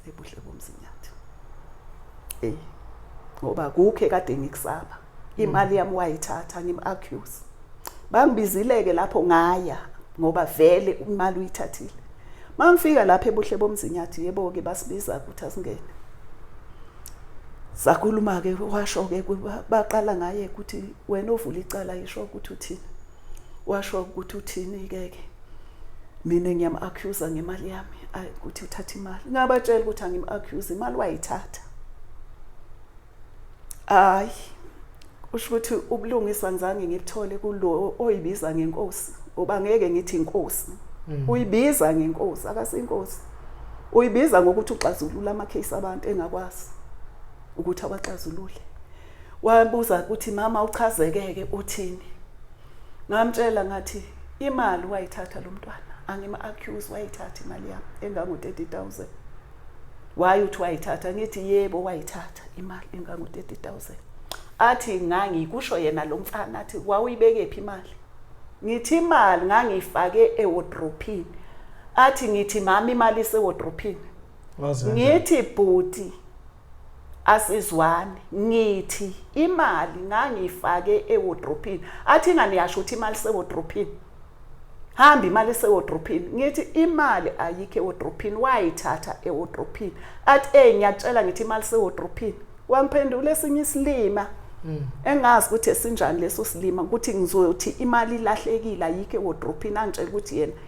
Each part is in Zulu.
ebuhle bomzinyathi eh ngoba kukhe kade ngikusaba imali yami wayithatha ngim accuse bangibizileke lapho ngaya ngoba vele imali uyithathile mangifika lapha ebuhle bomzinyathi yebo ke basibiza ukuthi asingene sakhuluma ke washo ke baqala ngaye ukuthi wena ovula icala yisho ukuthi uthini washo ukuthi uthini ke ke mina ngiyam accuser ngemali yami ukuthi uthatha imali ngabatshela ukuthi angim accuse imali wayithatha hayi usho ukuthi ubulungisa ngizange ngikuthole kulo oyibiza ngenkosi ngoba ngeke ngithi inkosi mm. uyibiza ngenkosi akasinkosi uyibiza ngokuthi uxazulula ama case abantu engakwazi ukuthi awaxazulule wabuza ukuthi mama uchazekeke uthini ngamtshela ngathi imali wayithatha lo mntwana angima accuse wayithatha imali yami engango 30000 why uthi wayithatha ngithi yebo wayithatha imali engango 30000 athi ngangikusho yena lo mfana athi wawuyibeke phi imali ngithi imali ngangiyifake ewardrophini athi ngithi mama imali isewardrophini ngithi bhuti asizwani ngithi imali ngangiyifake ewodrophini athi ingane yasho ukuthi imali sewodrophini hamba imali sewodrophini ngithi imali ayikho ewodrophini wayithatha ewodrophini athi ey ngiyatshela ngithi imali sewodrophini wangiphendula esinye isilima hmm. engazi ukuthi esinjani leso silima ukuthi ngizothi imali ilahlekile ayikho ewodrophini angitshela ukuthi yena mm.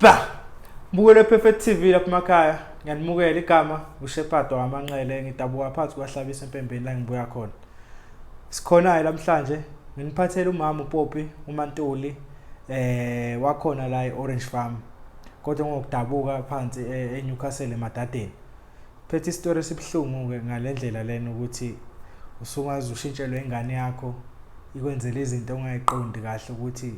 Ba! Mbukelo Perfect TV lapha emakhaya. Ngiyanimukela igama uShepado wamanxele ngidabuka phansi kwahlabisa empembeni la ngibuya khona. Sikhonayo namhlanje nginiphathela umama uPopi uMantuli eh wakhona la eOrange Farm. Kodwa ngokudabuka phansi eh, eNewcastle eMadadeni. phethe isitori esibuhlungu-ke ngale ndlela lena ukuthi usungaze ushintshelwe ingane yakho ikwenzela izinto ongayiqondi kahle ukuthi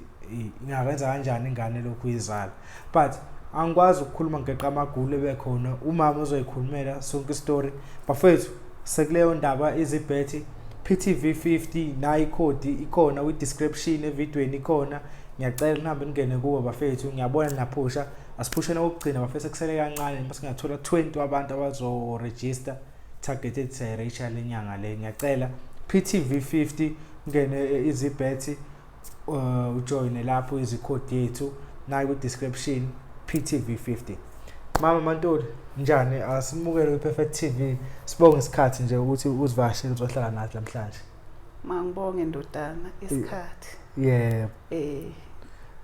ingakwenza kanjani ingane lokhu uyizala but angikwazi ukukhuluma ngeqa amagulo ebekhona umama uzoyikhulumela sonke isitori bafethu sekuleyo ndaba izibhethi PTV 50 nayi ikhodi ikhona kwi description evidweni ikhona ngiyacela nihambe ningene kubo bafethu ngiyabona naphusha asiphusheni okugcina bafese kusele kancane noma singathola 20 wabantu abazoregister target ethi siyayireisha le nyanga le ngiyacela PTV 50 ngene eh, izibethi uh, ujoyine lapho izikhodi yethu nayo kwi-description PTV 50 mama mantuli njani asimukele kwi-perfect tv sibonge isikhathi nje ukuthi uzivashele uzohlala nathi namhlanje Mangibonge ndodana isikhathi. Yebo. Eh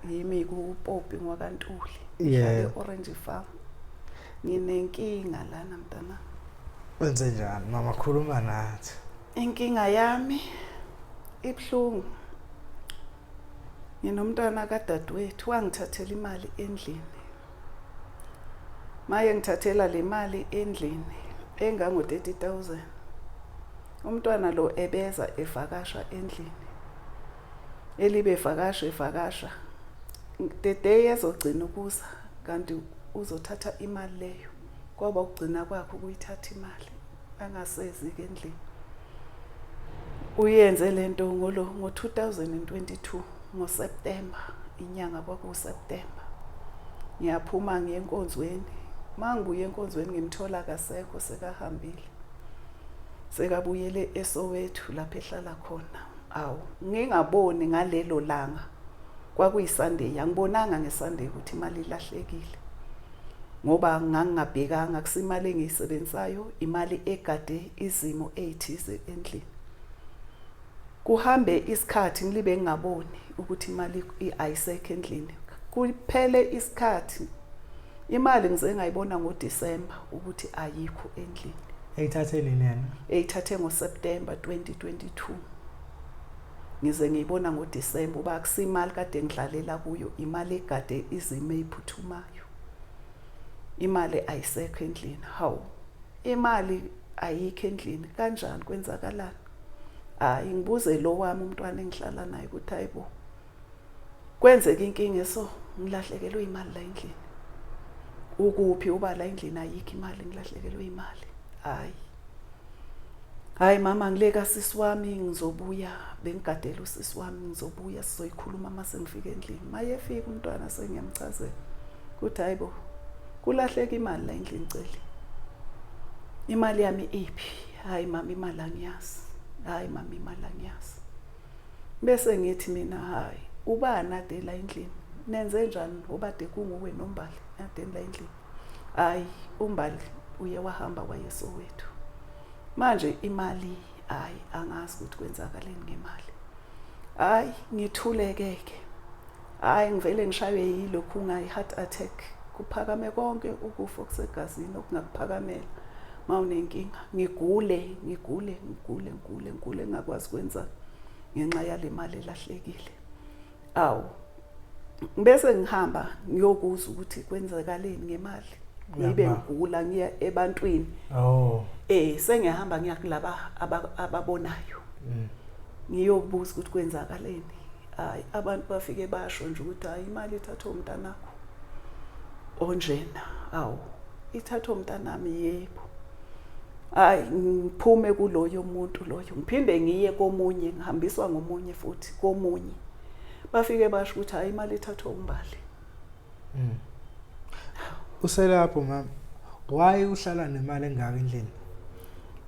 yimi kupopi ngwakantuli. Ngihlale Orange Farm. Nginenkinga lana mntana. Wenze njani mama khuluma nathi. Inkinga yami ibhlungu. Nginomntwana kadadewethu wangithathela imali endlini. Maye ngithathela le mali endlini engango 30000. Umntwana lo ebeza evakasha endlini. Elibe vakasha evakasha. The day ezogcina ukuza kanti uzothatha imali leyo. Kwaba ukugcina kwakhe ukuyithatha imali angasezi ke endlini. Uyenze lento ngolo ngo-2022 ngoSeptember inyanga kwakuSeptember. Ngiyaphuma ngiye enkonzweni. Mangibuye enkonzweni ngimthola kasekho sekahambile. sekabuyele eSoweto lapho ehlala khona awu ngingaboni ngalelo langa kwakuyiSunday angibonanga ngeSunday ukuthi imali ilahlekile ngoba ngangingabhekanga kusimali engiyisebenzayo imali egade izimo ezithize endlini Kuhambe isikhathi ngilibe ngingaboni ukuthi imali ayisekho endlini. Kuphele isikhathi imali ngize ngayibona ngoDisemba ukuthi ayikho endlini. Eyithathe nini yena? Eyithathe ngoSeptember 2022. Ngize ngiyibona ngoDisemba uba akusimali kade ngidlalela kuyo, imali egade izime iphuthumayo. Imali ayisekho endlini. Hawu. Imali ayikho endlini kanjani kwenzakalani? hayi ngibuze lo wami umntwana engihlala naye ukuthi hayibo kwenzeka inkinga eso ngilahlekelwe imali la endlini ukuphi uba la endlini ayikho imali ngilahlekelwe imali hayi hayi mama ngileka sisi wami ngizobuya bengigadela usisi wami ngizobuya sizoyikhuluma uma sengifika endlini mayefika umntwana sengiyamchazela ukuthi hayibo kulahleka imali la endlini celi imali yami iphi hayi mama imali angiyazi hayi mama imali angiyazi bese ngithi mina hayi ubani ade la endlini nenze njani obade kunguwe nombali adeni la endlini hayi umbali uye wahamba wayeso wethu manje imali hayi angazi ukuthi kwenzakaleni ngemali hayi ngithulekeke hayi ngivele ngishaywe yilokhu ngayi-heart attack kuphakame konke ukufa okusegazini okungakuphakamela uma unenkinga ngigule ngigule ngigule ngigule ngigule ngingakwazi kwenza ngenxa yale mali elahlekile awu bese ngihamba ngiyokuzwa ukuthi kwenzakaleni ngemali ngibe ngigula ngiya ebantwini oh eh sengiyahamba ngiya kulaba ababonayo mm. ngiyobuza ukuthi kwenzakaleni hayi abantu bafike basho nje ukuthi hayi imali ithathwe umntanakho onjena awu ithathwe umntanami yebo hayi ngiphume kuloyo muntu loyo ngiphinde ngiye komunye ngihambiswa ngomunye futhi komunye bafike basho ukuthi hayi imali ithathwe umbali Mm. Uselapho mama. Why uhlala nemali engaka endlini?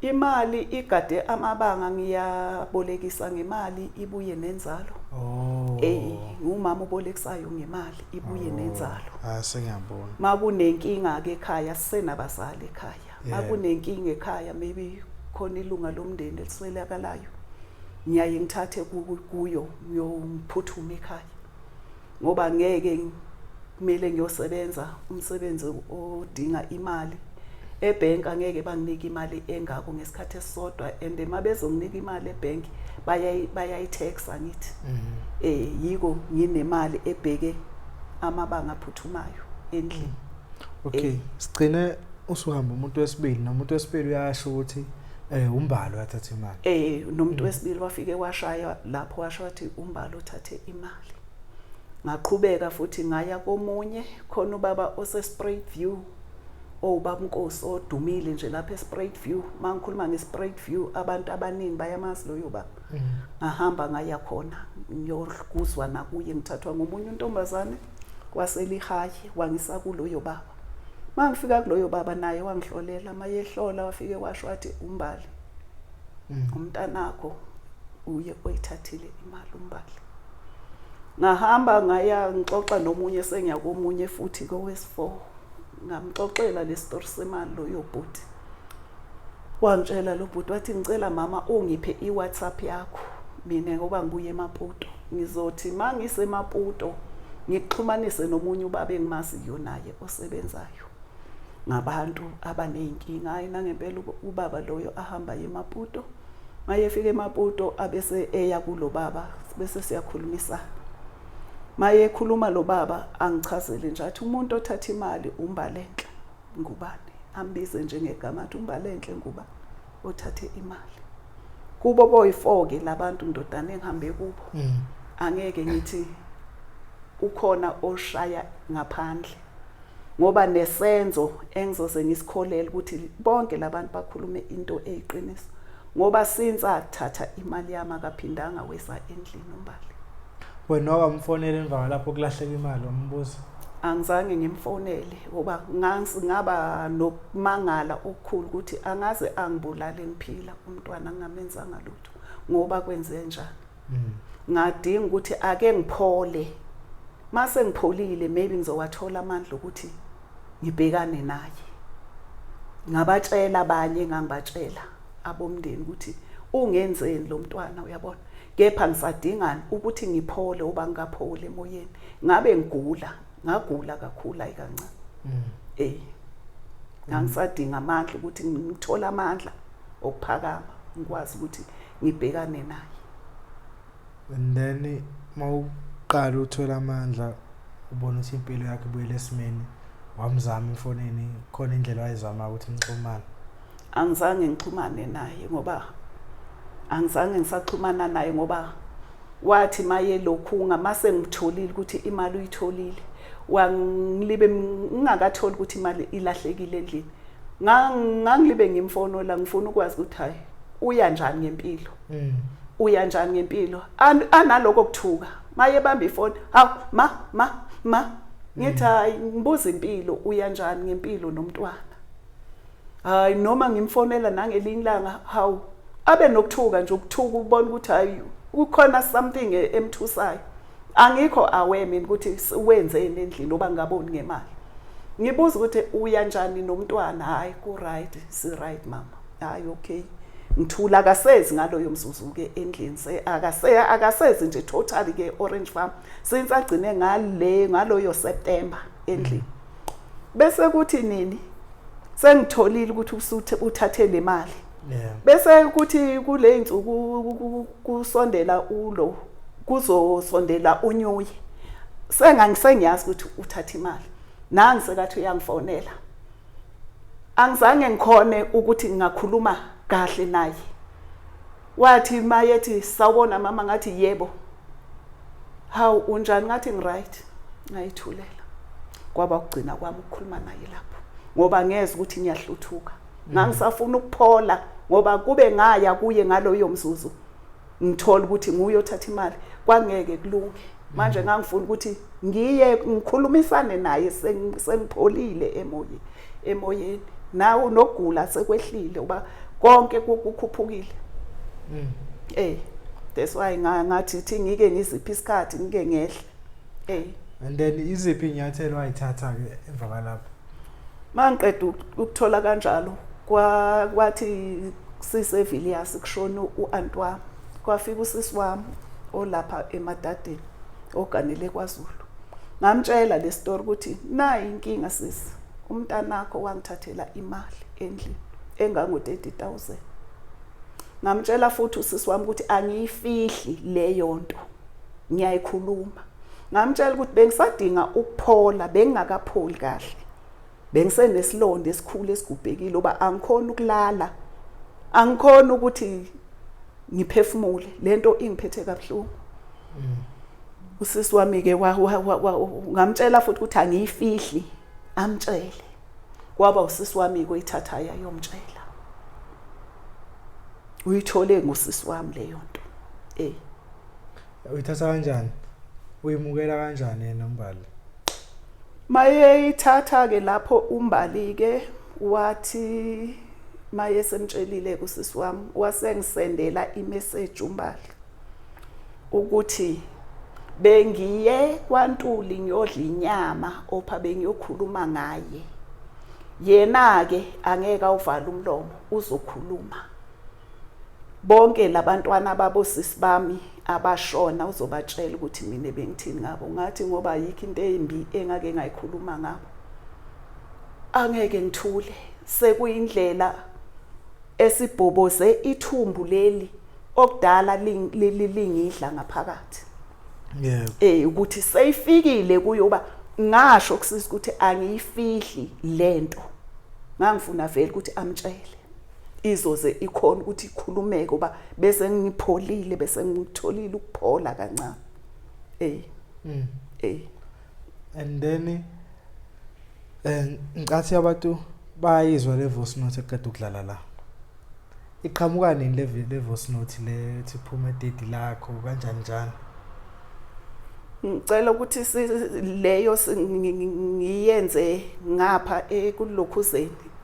Imali igade amabanga ngiyabolekisa ngemali ibuye nenzalo. Oh. Ey, ngumama ubolekisayo ngemali ibuye oh. nenzalo. Ah sengiyabona. Makunenkinga ke ekhaya sisenabazali ekhaya. Makunenkinga ekhaya maybe khona ilunga lomndeni eliswelakalayo. Ngiyaye ngithathe kuyo ngiyophuthuma ekhaya. ngoba ngeke kumele ngiyosebenza umsebenzi odinga imali ebhenki angeke banginike imali engako ngesikhathi esisodwa and uma bezonginika imali ebhenki bayayi-taxa ngithi um mhm. eh, yiko nginemali ebheke amabanga aphuthumayo endlini okay sigcine usuhamba umuntu wesibili nomuntu wesibili uyasho ukuthi eh umbalo wathatha imali eh nomuntu wesibili wafike washaya lapho washo wathi umbalo uthathe imali ngaqhubeka futhi ngaya komunye khona ubaba osesprait view owubabunkosi oh, odumile nje lapha esprait view mangikhuluma ngesprait view abantu abaningi bayamazi loyo baba mm. ngahamba ngaya khona ngiyokuzwa nakuye ngithathwa ngomunye untombazane waselihayi wangisa kuloyo baba mangifika kuloyo baba naye wangihlolela mayehlola wafike washo wathi umbali mm. umntanakho uye oyithathile imali umbali ngahamba ngaya ngixoxa nomunye sengiya komunye futhi kowes4 ngamxoxela le story semali loyo bhuti wangitshela lo bhuti wathi ngicela mama ungiphe i-whatsapp yakho mina ngoba ngibuye emaputo ngizothi uma ngisemaputo ngikuxhumanise nomunye ubaba engimaziyo naye osebenzayo ngabantu abaney'nkinga hhayi nangempela ubaba loyo ahamba yemaputo uma yefika emaputo abese eya kulo baba bese siyakhulumisana uma yekhuluma lo baba angichazele nje athi umuntu othatha imali umbalenhle Ngubane ambize njengegama athi uMbalenhle Nguba othathe imali kubo boyifoke labantu ndodana engihambe kubo mm. angeke ngithi ukhona oshaya ngaphandle ngoba nesenzo engizoze ngisikholele ukuthi bonke labantu bakhulume into eyiqiniso ngoba since athatha imali yami akaphindanga weza endlini umbali wena wakamfonela emva kwalapho kulahleka imali wambuza angizange ngimfonele ngoba ngaba nokumangala okukhulu ukuthi angaze angibulale ngiphila umntwana ngingamenzanga lutho ngoba kwenze njani mm. ngadinga ukuthi ake ngiphole mase ngipholile maybe ngizowathola amandla ukuthi ngibhekane naye ngabatshela abanye engangibatshela abomndeni ukuthi ungenzeni lo mntwana uyabona kepha ngisadingani ukuthi ngiphole uba ngikaphole emoyeni ngabe ngigula ngagula kakhulu ayi kancane mm. eh ngangisadinga amandla ukuthi ngithola amandla okuphakama ngikwazi ukuthi ngibhekane naye and then mawuqala uthola amandla ubona ukuthi impilo yakhe ibuyele esimeni wamzama efonini khona indlela wayizama ukuthi nixhumane angizange ngixhumane naye ngoba angizange ngisaxhumana naye ngoba wathi maye lokhu ngamase ngitholile ukuthi imali uyitholile wangilibe ngingakatholi ukuthi imali ilahlekile endlini ngangilibe ngimfonola ngifuna ukwazi ukuthi hayi uya njani ngempilo mm. uya njani ngempilo analoko kuthuka maye bamba ifoni hawu ma ma ma ngithi hayi ngibuza impilo uya njani ngempilo nomntwana hayi noma ngimfonela nangelinye ilanga hawu abe nokuthuka nje ukuthuka ubona ukuthi hayi kukhona something e-, emthusayo angikho aware mina ukuthi wenzeni endlini oba ngaboni ngemali ngibuza ukuthi uya njani nomntwana hayi ku right si right mama hayi okay ngithula akasezi ngaloyo mzuzu ke endlini se akase akasezi nje totally ke orange farm since agcine ngale ngaloyo september endlini bese kuthi nini sengitholile ukuthi usuthe uthathe le mali bese kuthi kule nsuku kusondela ulo kuzosondela unyuye sengangisengiyazi ukuthi uthatha imali nangi sekathi uyangifonela angizange ngikhone ukuthi ngingakhuluma kahle naye wathi mayethi sawubona mama ngathi yebo hawu unjani ngathi ngiright ngayithulela kwaba ukugcina kwami ukukhuluma naye lapho ngoba ngeze ukuthi ngiyahluthuka ngangisafuna ukuphola ngoba kube ngaya kuye ngaloyo mzuzu ngithola ukuthi nguye othatha imali kwangeke kulunge manje mm. ngangifuna ukuthi ngiye ngikhulumisane naye sengipholile emoyeni emoyeni nawo nokugula sekwehlile uba konke kukhuphukile mm. eh that's why ngathi thi ngike ngiziphi isikhathi ngike ngehle eh and then iziphi inyathelo ayithatha ke emva kwalapho mangiqeda ukuthola kanjalo kwathi sisevilliers kushona u-anti wami kwafika usisi wami olapha emadadeni oganele kwazulu ngamtshela le story ukuthi nayi inkinga sisi umntanakho wangithathela imali endlini engango-30000 ngamtshela futhi usisi wami ukuthi angiyifihli leyo nto ngiyayikhuluma ngamtshela ukuthi bengisadinga ukuphola bengingakapholi kahle bengisenesilonda esikhulu esigubhekile uba angikhona ukulala angikhona ukuthi ngiphefumule lento ingiphethe kabuhlungu mm. usisi wami ke ngamtshela futhi ukuthi angiyifihli amtshele kwaba usisi wami kuyithatha yayomtshela uyithole ngusisi wami leyo nto eh uyithatha kanjani uyimukela kanjani yena umbali mayeyithatha ke lapho umbali ke wathi maye semtshelile kusisi wami wasengisendela imessage umbali ukuthi bengiye kwantuli ngiyodla inyama opha bengiyokhuluma ngaye yena ke angeke awuvala umlomo uzokhuluma bonke labantwana babo sisi bami abashona uzobatshela ukuthi mina bengithini ngabo ngathi ngoba ayikho into embi engake ngayikhuluma ngabo angeke ngithule sekuyindlela esibhoboze ithumbu leli okudala lingidla ngaphakathi yeah eh ukuthi seyifikile kuyoba ngasho kusisa ukuthi angiyifihli lento ngangifuna vele ukuthi amtshele izoze ikhona ukuthi ikhulumeke uba bese ngipholile bese ngikutholile ukuphola kancane ey mm. ey and then eh ngicathi abantu bayizwa le voice note eqeda ukudlala la iqhamuka nini le le voice note le ethi phuma date lakho kanjani njani ngicela ukuthi leyo ngiyenze ngapha ekulokhuzeni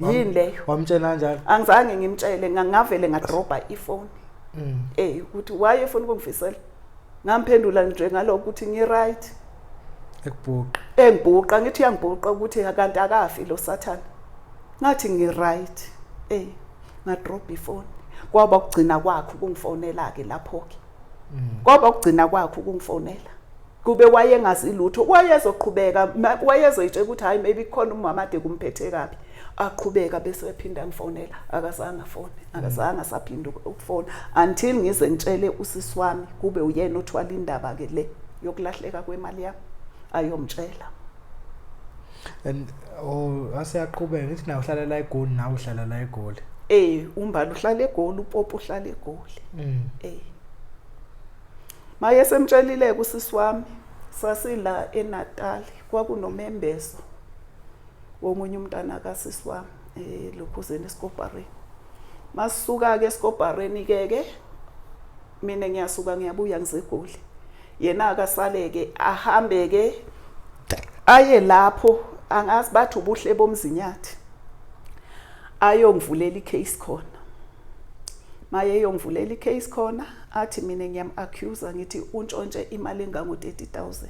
yini leyo wamtshela kanjalo angizange ngimtshele ngangavele ngadrobha ifoni mm. eh ukuthi why efuna ukungifisela ngamphendula nje ngalokho ukuthi ngi right ekubhuqa engibhuqa ngithi uyangibhuqa ukuthi akanti akafi lo sathana ngathi ngi right eh ngadrobha ifoni kwaba ukugcina kwakhe ukungifonela ke lapho ke kwaba ukugcina kwakhe ukungifonela kube wayengazi lutho wayezoqhubeka wayezoyitshela ukuthi hayi maybe khona umama ade kumphethe kabi aqhubeka bese ephinda ngifonela akazange afone akazange asaphinda ukufona until ngize ngitshele usisi wami kube uyena othwala indaba ke le yokulahleka kwemali yami ayomtshela and oh asiyaqhubeka ngithi na uhlala la egoli na uhlala la egoli eh umbali uhlala egoli upopo uhlala egoli mm. eh maye semtshelile kusisi wami sasila eNatal kwakunomembeso womunye umntana kasisi wami eh lokhuzeni esikobhareni masuka ke esikobhareni ke ke mina ngiyasuka ngiyabuya ngizegoli yena akasaleke ahambe ke aye lapho angazi bathi ubuhle bomzinyathi ayongivulela icase khona maye yongivulela icase khona athi mina ngiyam accuser ngithi untshontshe imali engango 30000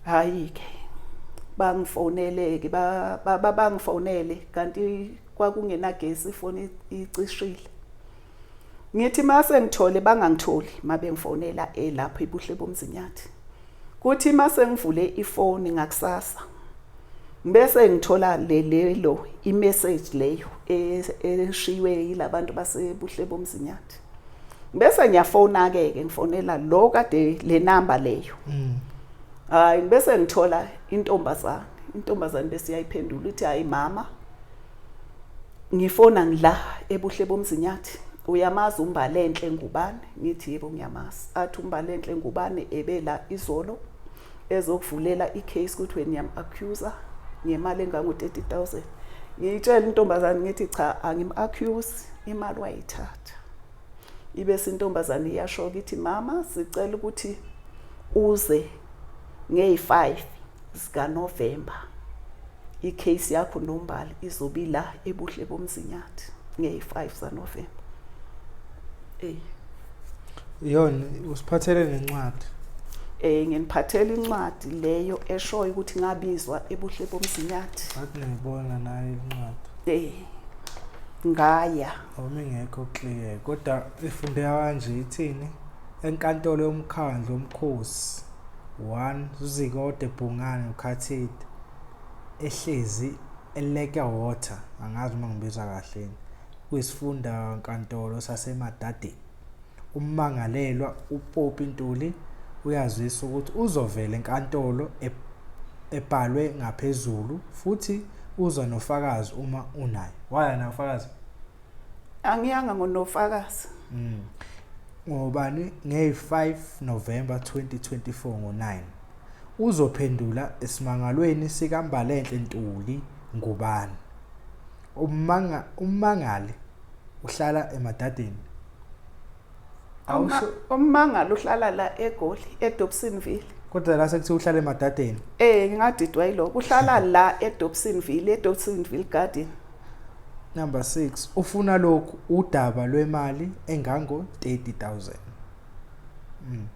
hayi ke bangifonele ke baba bangifonele kanti kwakungenagesi ifoni icishile Ngithi mase ngithole bangangitholi mabengifonela elapho eh, ibuhle bomzinyathi. Kuthi mase ngivule ifoni ngakusasa. Bese ngithola lelo imessage leyo e, eshiywe yilabantu basebuhle bomzinyathi. Bese ngiyafona ke ke ngifonela lo kade le number leyo. Mm. Hayi bese ngithola intombazane. Intombazane bese iyayiphendula uthi hayi mama Ngifona ngila ebuhle bomzinyathi. Uyamazi umbalenhle ngubane? Ngithi yebo ngiyamazi. Athi umbalenhle ngubane ebela izolo ezokuvulela i-case kuthiwe niyam-accusa ngemali engango-thirty thousand. Ngiyitshela intombazane ngithi cha angim-accuse imali wayithatha. ibese intombazane iyashoka ithi mama sicela ukuthi uze ngey5 zika November icase yakho nombali izobe la ebuhle bomzinyathi ngey5 za November eh yona usiphathele nencwadi eh nginiphathela incwadi leyo eshoyo ukuthi ngabizwa ebuhle bomzinyathi athi ngibona nayo incwadi eh ngaya Uma ingekho clear kodwa ifundeka kanje ithini enkantolo yomkhandlu omkhosi 1 Zuzikode Bhungane uKhathide ehlezi eLake Water angazi uma ngibiza kahle kuyisifunda nkantolo saseMadadeni Ummangalelwa uPoppy Ntuli uyazisa ukuthi uzovela enkantolo ebhalwe ngaphezulu futhi uza nofakazi uma unaye. Waya nayo ufakazi? Angiyanga ngonofakazi. Mm. Ngobani nge-5 November 2024 ngo-9 uzophendula esimangalweni sikaMbalenhle Ntuli ngubani. Ummangali uhlala emadadeni awusho ummangalo uhlala la egoli edobsonville kodwa la sekuthi uhlala emadadeni eh ngingadidwa yiloko uhlala la edobsonville edobsonville garden number 6 ufuna lokhu udaba lwemali engango 30000 mm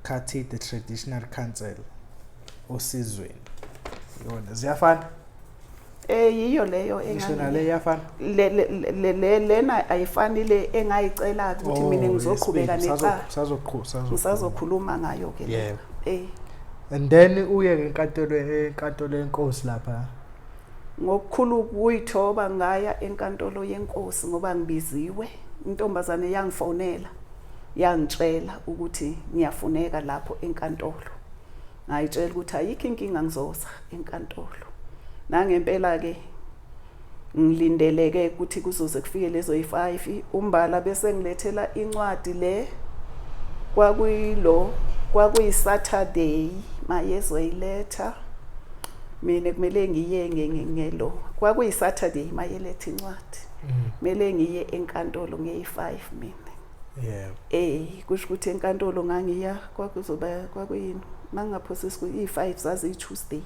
khathi the traditional council osizweni yona ziyafana Eh yiyo leyo lena ayifani le engayicela ukuthi oh, mina ngizoqhubeka nexa. Sazoqhubeka sazokhuluma. Ngisazokhuluma ngayo ke. Yebo. Eh. And then uye ke enkantolo enkantolo yenkosi lapha. Ngokukhulu kuyithoba ngaya enkantolo yenkosi ngoba ngibiziwe. Intombazane yangifonela yangitshela ukuthi ngiyafuneka lapho enkantolo. ngayitshela ukuthi ayikho inkinga ngizoza enkantolo nangempela-ke ngilindeleke ukuthi kuzoze kufike lezo yi-five umbala bese ngilethela incwadi le kwakuyilo kwakuyi-saturday mayezoyiletha mina kumele ngiye ngelo kwakuyi-saturday mayeletha incwadi mm. kumele ngiye enkantolo ngeyi-five mina yebo eh kusho ukuthi enkantolo ngangiya kwakuzoba kwakuyini mangingaphosa isiku i-5 zaziyi-tuesday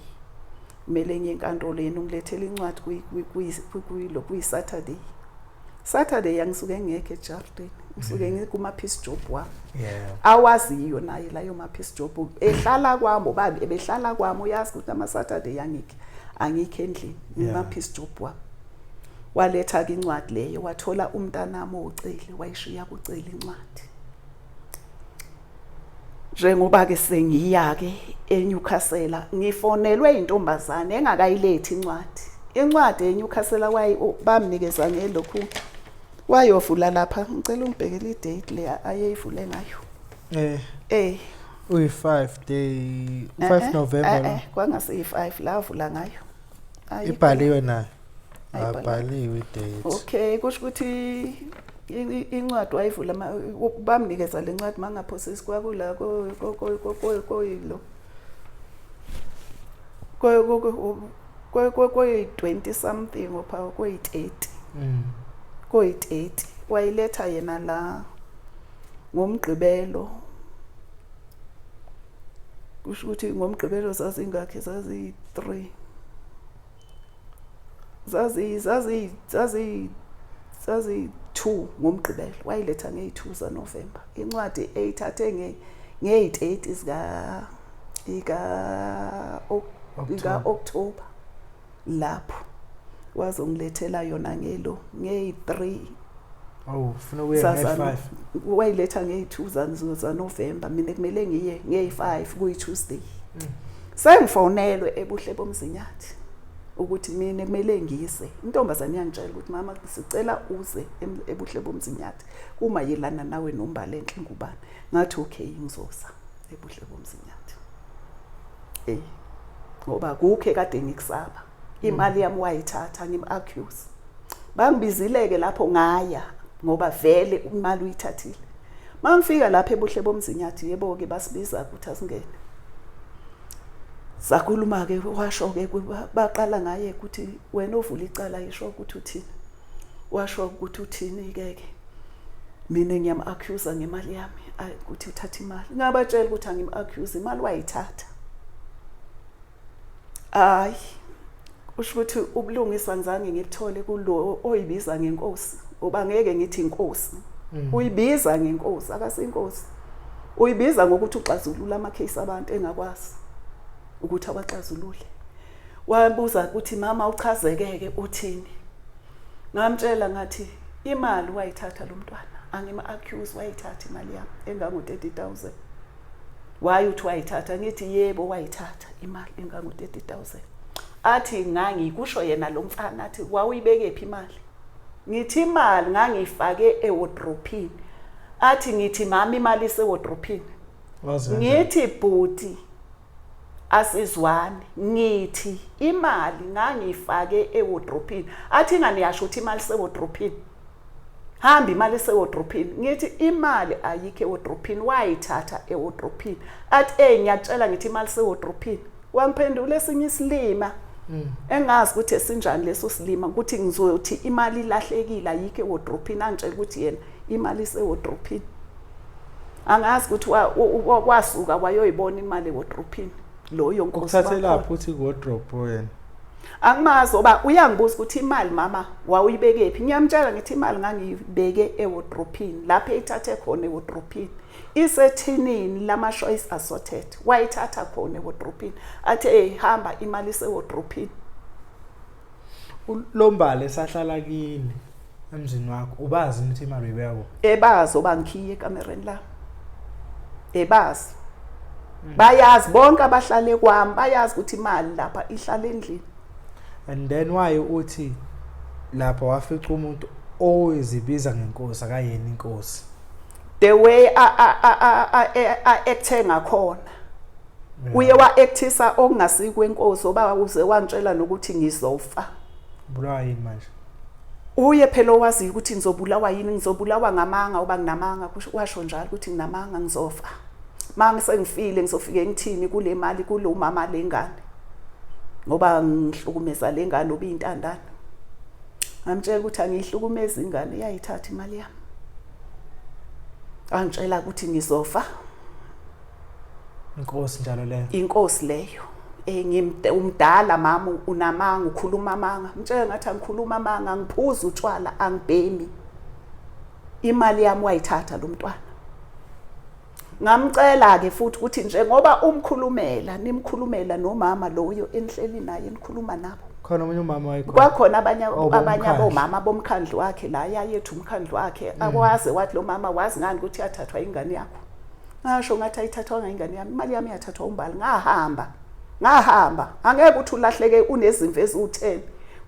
kumele ngiye enkantolo yena ungilethela incwadi kuyilo kuyi-saturday saturday angisuke ngekho ejardini ngisuke mm. ngikuma-peace job wami awaziyo naye layo ma-peace job ehlala kwami ubani ebehlala kwami uyazi ukuthi ama-saturday angikho angikho endlini ngima-peace job wami waletha-ke incwadi leyo wathola umntanami owuceli wayishiya kuceli incwadi njengoba-ke sengiya-ke enyukhasela ngifonelwe intombazane engakayilethi incwadi incwadi enyukhasela bamnikeza ngelokhu wayovula lapha ngicela ungibhekele idate le ayeyivule ngayo eh eh uyi-5 day u-5 eh, eh, november eh, kwangase yi-5 lavula ngayo Ayikho. ibhaliwe nayo Ayibhaliwe. abhaliwe idate Okay, kusho ukuthi i- i- incwadi wayivula ma- u- bamnikeza le ncwadi mangaphosisi kwakula ko- ko- ko- ko- ko- koyilo. Ko- ko- ko- ko- ko- koyi-20 something opha koyi-30 Mm. koyi-30 wayiletha yena la ngomgqibelo kusho ukuthi ngomgqibelo zazingakhi zaziyi-three zaziyi-two ngomgqibelo wayiletha ngeyi-two zanovemba incwadi eyithathe ngeyi-thirty zika-october lapho wazongilethela yona ngelo ngeyi-3 awu ufuna ukuya ngeyi-5 wayiletha ngeyi-2 zanovemba mina kumele ngiye ngeyi-5 kuyi-tuesday mm. sengifonelwe ebuhle bomzinyathi ukuthi mina kumele ngise intombazane yangitshela ukuthi mama sicela uze ebuhle bomzinyathi uma yelana nawe nombala enhle ngubani ngathi okay ngizosa ebuhle bomzinyathi Hey. Ngoba kukhe kade ngikusaba. Imali yami wayithatha ngim accuse. Bangibizileke lapho ngaya ngoba vele imali uyithathile. Mangifika lapha ebuhle bomzinyathi yebo ke basibiza ukuthi asingene. Sakhuluma ke washo ke baqala ngaye ukuthi wena ovula icala yisho ukuthi uthini. washo ukuthi uthini ke ke mina ngiyam accuse ngemali yami ukuthi uthatha imali ngabatshela ukuthi angim accuse imali wayithatha hayi usho ukuthi ubulungisa ngizange ngikuthole kulo oyibiza ngenkosi ngoba ngeke ngithi inkosi mm. uyibiza ngenkosi akasinkosi uyibiza ngokuthi uxazulula ama case abantu engakwazi ukuthi awaxazulule wabuza ukuthi mama uchazekeke uthini ngamtshela ngathi imali wayithatha lo mntwana angima-accuse wayithatha imali yami engango-thirty thousand waye uthi wayithatha ngithi yebo wayithatha imali engango-thirty thousand athi ngangikusho yena lo mfana athi wawuyibekephi imali ngithi imali ngangiyifake ewodrophini athi ngithi mama imali isewodrophini ngithi bhuti asizwani ngithi imali ngangiyifake ewodrophini athi ingane yasho ukuthi imali sewodrophini hamba imali sewodrophini ngithi imali ayikho ewodrophini wayithatha ewodrophini athi ey ngiyatshela ngithi imali sewodrophini wangiphendula esinye isilima hmm. engazi ukuthi esinjani leso silima ukuthi ngizothi imali ilahlekile ayikho ewodrophini angitshela ukuthi yena imali isewodrophini angazi ukuthi wasuka wayoyibona imali wodrophini loyo nkosi ukuthathelaphi uthi wodrop yena angimazi oba uyangibuza ukuthi imali mama wawuyibeke phi ngiyamtshela ngithi imali ngangiyibeke ewodrophini lapho eyithathe khona ewodrophini isethinini lama-choice assorted wayithatha khona ewodrophini athi eyihamba imali isewodrophini ulombale sahlala kini emzini wakho ubazi imithi imali uyibeka ebazi obangikhiye ekamereni la ebazi mm. bayazi bonke abahlale kwami bayazi ukuthi imali lapha ihlala endlini and then why uthi lapha wafica umuntu oyizibiza ngenkosi akayena inkosi the way a a a a acte ngakhona uye wa-actisa okungasikwenkosi oba uze wangitshela nokuthi ngizofa bulawa yini manje uye phela owaziyo ukuthi ngizobulawa yini ngizobulawa ngamanga uba nginamanga washo njalo ukuthi nginamanga ngizofa ma ngisengifile ngizofike ngithini kule mali kulo mama lengane ngoba ngihlukumeza le ngane obiyintandane ngamtshela ukuthi angiyihlukumezi ingane iyayithatha imali yami angitshela ukuthi ngizofa inkosi njalo leyo inkosi leyo eh, ngimdala mama unamanga ukhuluma amanga mtshela ngathi angikhuluma amanga angiphuza utshwala angibhemi imali yami wayithatha lo mntwana ngamcela ke futhi ukuthi njengoba umkhulumela nimkhulumela nomama loyo enihleli naye nikhuluma nabo khona omunye umama wayekhona kwakhona abanye oh, abanye abomama bomkhandlu wakhe la yayethu umkhandlu wakhe mm. akwaze wathi lo mama wazi ngani ukuthi yathathwa ingane yakho ngasho ngathi ayithathwanga ingane yami imali yami yathathwa umbali ngahamba ngahamba angeke ukuthi ulahleke unezimvu eziwu-10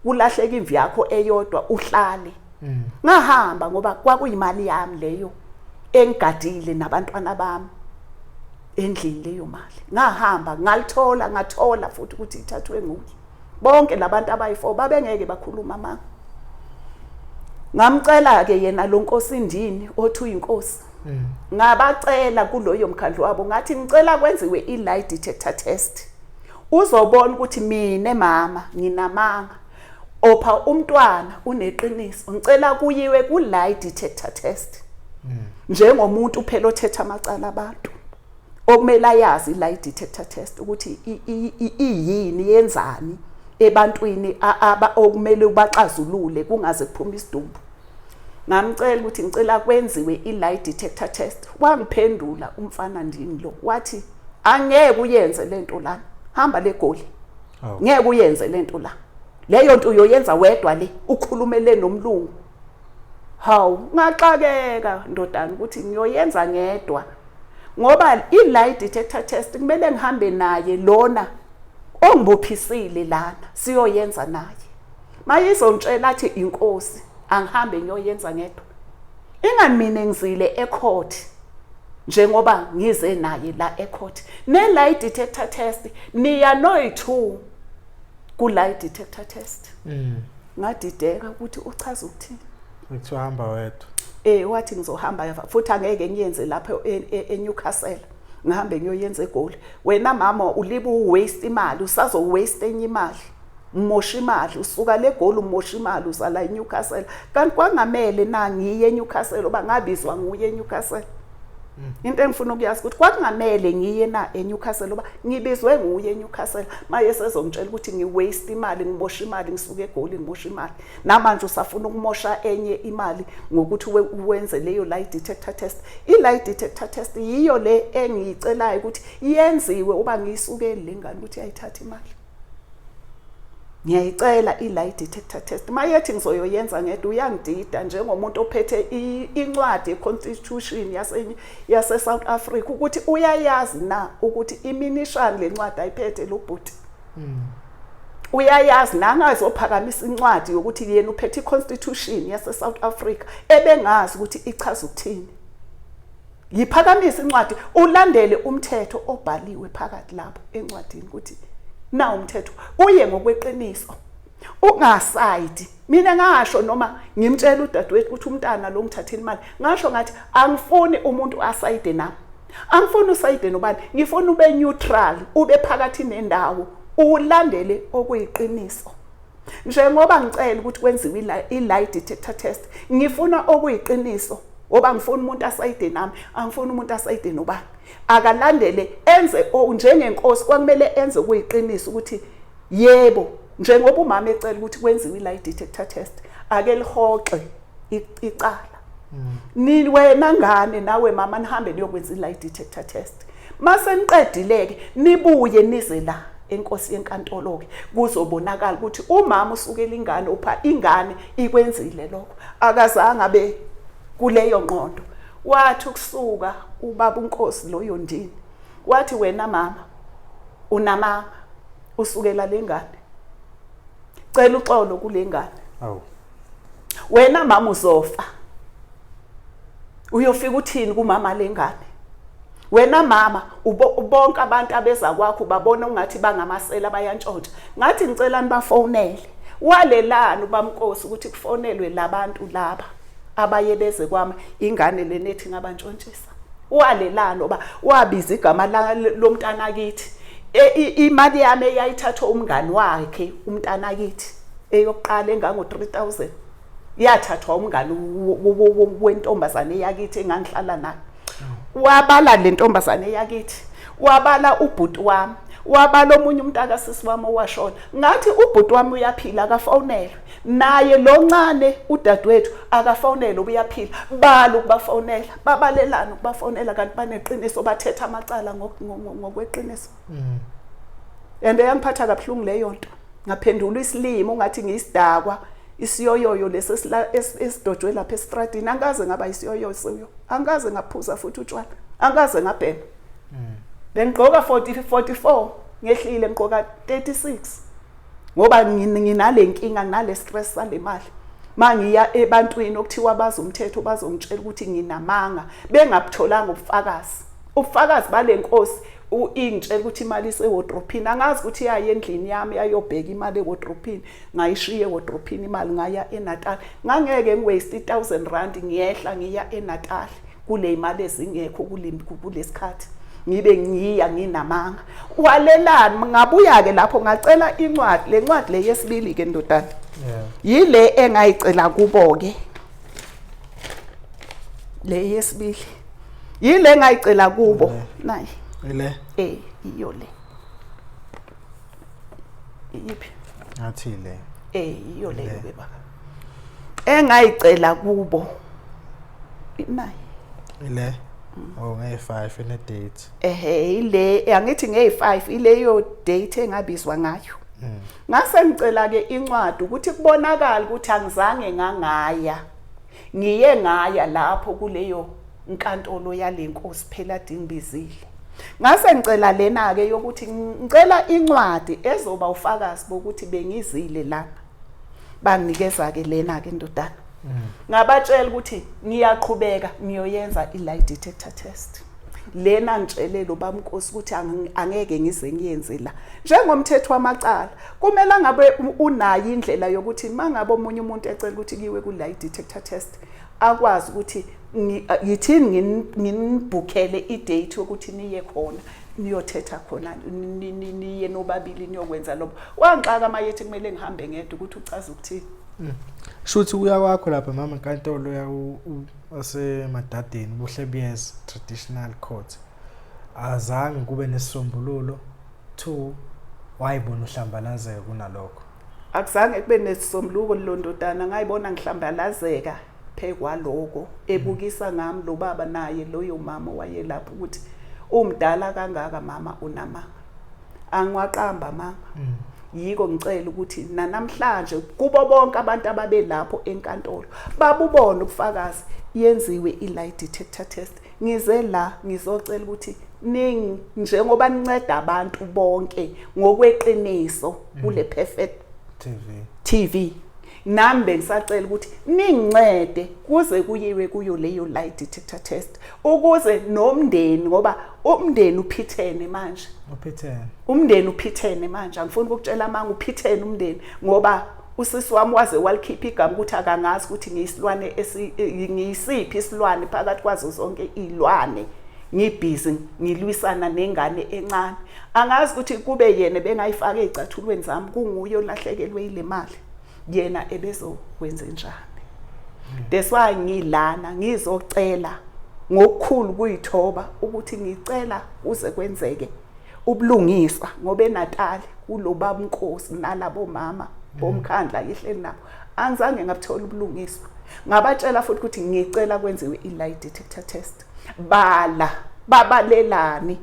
kulahleka imvu yakho eyodwa uhlale mm. ngahamba ngoba kwakuyimali yami leyo engigadile nabantwana bami endlini leyo mali ngahamba ngalithola ngathola futhi ukuthi ithathwe nguye bonke labantu abayi4 babengeke bakhuluma manga ngamcela ke yena lo nkosi ndini othi uyinkosi mm. ngabacela kuloyo mkhandlu wabo ngathi ngicela kwenziwe i-lie detector test uzobona ukuthi mina mama nginamanga opha umntwana uneqiniso ngicela kuyiwe ku-lie detector test mm. njengomuntu phela othetha amacala abantu okumele ayazi i-lie detector test ukuthi iyini yenzani ebantwini okumele ubaxazulule kungaze kuphume isidumbu ngamcela ukuthi ngicela kwenziwe i-lie detector test wangiphendula umfana ndini lo wathi angeke uyenze le nto lana hamba le goli oh. ngeke uyenze le nto la leyo nto uyoyenza wedwa le ukhulumele nomlungu hawu ngaxakeka ndodana ukuthi ngiyoyenza ngedwa ngoba i-lie detector test kumele ngihambe naye lona ongibophisile lana siyoyenza naye mayizongitshela athi inkosi angihambe ngiyoyenza ngedwa ingamine ngizile ecourt njengoba ngize naye la ecourt ne lie detector test niya noyithu ku lie detector test mm. ngadideka ukuthi uchaza ukuthini ngithi uhamba wedwa eh wathi ngizohamba futhi angeke ngiyenze lapha e, e, eNewcastle ngihambe ngiyoyenza egoli wena mama ulibu waste imali usazo waste enye imali umosha imali usuka le goli umosha imali uza la eNewcastle kanti kwangamele na ngiye eNewcastle oba ngabizwa nguye eNewcastle hmm. into engifuna ukuyazi ukuthi kwakungamele ngiye na eNewcastle oba ngibizwe nguye eNewcastle maye sezongitshela ukuthi ngiwaste imali ngimosha imali ngisuke egoli ngimosha imali namanje usafuna ukumosha enye imali ngokuthi wenze leyo lie detector test i lie detector test yiyo le engiyicelayo ukuthi yenziwe uba ngiyisukeli lengane ukuthi ayithathe imali ngiyayicela i-lie detector test uma yethi ngizoyoyenza ngedwa uyangidida njengomuntu ophethe incwadi ye-constitution yase-south africa ukuthi uyayazi na ukuthi iminishani le ncwadi ayiphethe lo bhuti hmm. uyayazi nangazophakamisa incwadi yokuthi yena uphethe i-constitution yase-south africa ebengazi ukuthi ichaza ukuthini yiphakamisa incwadi ulandele umthetho obhaliwe phakathi lapho encwadini ukuthi na umthetho uye ngokweqiniso ungasayidi mina ngasho noma ngimtshela udadewethu ukuthi umntana lo ngithathile imali ngasho ngathi angifuni umuntu asayide nami angifuni usayide nobani ngifuna ube neutral ube phakathi nendawo ulandele okuyiqiniso njengoba ngicela ukuthi kwenziwe i-lie detector test ngifuna okuyiqiniso ngoba ngifuna umuntu asayide nami angifuni umuntu asayide nobani akalandele enze njengenkosi kwakumele enze okuyiqiniso ukuthi yebo njengoba umama ecela ukuthi kwenziwe i-lie detector test ake lihoxe icala ni wena ngane nawe mama nihambe niyokwenza i-lie detector test mase niqedile-ke nibuye nize la enkosi yenkantolo-ke kuzobonakala ukuthi umama usukela ingane upha ingane ikwenzile lokho akazange abe kuleyo nqondo wathi ukusuka ubaba unkosi loyo ndini wathi wena mama unamama usukela lengane cela uxolo kulengane awu wena mama uzofa uyofika uthini kumama lengane wena mama bonke abantu abeza kwakho babona ungathi bangamasela bayantshontsha ngathi ngicela nibafonele walelani ubamkosi ukuthi kufonelwe labantu laba abaye beze kwami ingane lenethi ngabantshontshisa walelani oba wabiza igama lomntana kithi e, imali yami eyayithathwa umngani wakhe umntana kithi eyokuqala engango 3000 yathathwa umngani wentombazane yakithi engangihlala nayo wabala le ntombazane yakithi wabala ubhuti wami wabala omunye umntakasisi wami owashona ngathi ubhuti wami uyaphila akafonelwe naye loncane udadewethu akafonele ubuyaphila bala ukubafonela babalelana ukubafonela kanti baneqiniso bathetha amacala ngokweqiniso mm. and eyangiphatha kabuhlungu leyo nto ngaphendula isilimo ngathi ngiyisidakwa isiyoyoyo lesi esidojwe lapha esitradini angikaze ngaba isiyoyoyo siyo angikaze ngaphuza futhi utshwala angikaze ngabhema mm. bengigqoka 40 44 ngehlile ngigqoka 36 ngoba nginale nkinga nginale stress sale mali mangiya ebantwini okuthiwa bazi umthetho bazongitshela ukuthi nginamanga bengabutholanga ubufakazi ubufakazi bale nkosi ingitshela ukuthi imali isewodrophini angazi ukuthi yaye endlini yami yayobheka imali ewodrophini ngayishiya ewodrophini imali ngaya enatal ngangeke ngiwaste i-thousand rand ngiyehla ngiya enatal kuneyimali ezingekho kulesikhathi ngibe ngiya nginamanga walelani ngabuya ke lapho ngacela incwadi le ncwadi le yesibili ke ndodana yile engayicela kubo ke le yesibili yile engayicela kubo nayi ile eh iyo le iyiphi ngathi le eh iyo le baba engayicela kubo imali ile oh ngey 5 ine date ehe ile angithi ngey 5 ile yo date engabizwa ngayo hmm. ngase ngicela ke incwadi ukuthi kubonakala ukuthi angizange ngangaya ngiye ngaya lapho kuleyo inkantolo yalenkosi phela dingbizile ngase ngicela lena ke yokuthi ngicela incwadi ezoba ufakazi bokuthi bengizile lana banginikeza ke lena ke ndodana mm. ngabatshela ukuthi ngiyaqhubeka ngiyoyenza i lie detector test lena ngitshelelo bamnkosi ukuthi angeke ngize ngiyenze la njengomthetho wamacala kumele ngabe unayo indlela yokuthi mangabe omunye umuntu ecela ukuthi kiwe ku lie detector test akwazi ukuthi yithini nginibhukele idate yokuthi niye khona niyothetha khona niye nobabili niyokwenza lobo wangixaka mayethi kumele ngihambe ngedwa ukuthi ucaza ukuthini mm. shuthi uya kwakho lapha mama nkantolo ya asemadadeni buhle buyeza traditional court azange kube nesisombululo two wayibona uhlambalazeka kunalokho akuzange kube nesisombuluko londodana ngayibona ngihlambalazeka Phekwaloko ebukisa ngami lobaba naye loyo mama wayelapha ukuthi umdala kangaka mama unamanga. Angiwaqamba mama. Mm. Yiko ngicela ukuthi nanamhlanje kubo bonke abantu ababelapho enkantolo babubona ubufakazi yenziwe i-lie detector test. Ngize la ngizocela ukuthi ningi njengoba ninceda abantu bonke ngokweqiniso mm. kule perfect TV. TV. nami bengisacela ukuthi ningincede kuze kuyiwe kuyo leyo lie detector test ukuze nomndeni ngoba umndeni uphithene manje uphithene umndeni uphithene manje angifuni ukutshela amanga uphithene umndeni ngoba usisi wami waze walikhipha igama ukuthi akangazi ukuthi ngiyisilwane ngiyisiphi isilwane phakathi kwazo zonke iy'lwane ngibhizi ngilwisana nengane encane angazi ukuthi kube yena bengayifaka ey'cathulweni zami kunguye olahlekelwe yile mali yena ebezokwenze njani that's why ngilana ngizocela ngokukhulu kuyithoba ukuthi ngicela uze kwenzeke ubulungiswa ngoba eNatali kulobaba uNkosi nalabo mama bomkhandla yihleli nabo angizange ngabuthola ubulungiswa ngabatshela futhi ukuthi ngicela kwenziwe i-lie detector test bala babalelani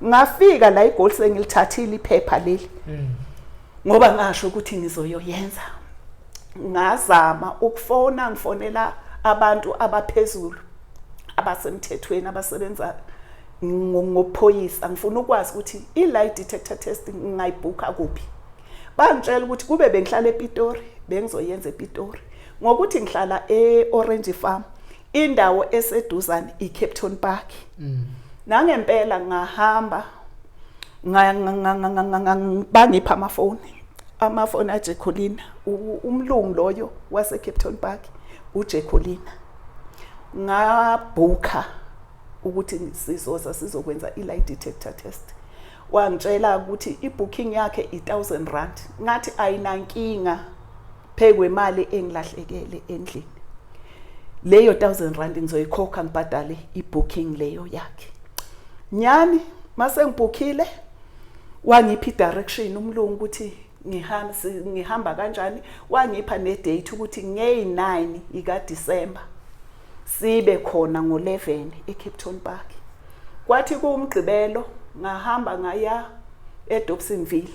ngafika la igoli sengilithathile iphepha leli mm. ngoba ngasho ukuthi ngizoyoyenza ngazama ukufona ngifonela abantu abaphezulu abasemthethweni abasebenza ngophoyisa ngifuna ukwazi ukuthi i-lie detector test ngingayibhukha kuphi bangitshela ukuthi kube bengihlala epitori bengizoyenza epitori ngokuthi ngihlala e-orange farm indawo eseduzane iCape Town Park mm. nangempela ngahamba bangipha amafoni amafoni aJekolina umlungu loyo waseCape Town Park uJekolina ngabhukha ukuthi sizoza sizokwenza i-lie detector test wangitshela ukuthi ibooking yakhe i1000 rand ngathi ayinankinga phekwe imali engilahlekele endlini leyo 1000 rand ngizoyikhokha ngibhadale ibooking leyo yakhe nyani mase ngibhukhile wangiphi direction umlungu ukuthi ngihamba ngihamba kanjani wangipha ne date ukuthi ngey 9 ika December sibe khona ngo-11 ecape town park kwathi kuwumgqibelo ngahamba ngaya edobsonville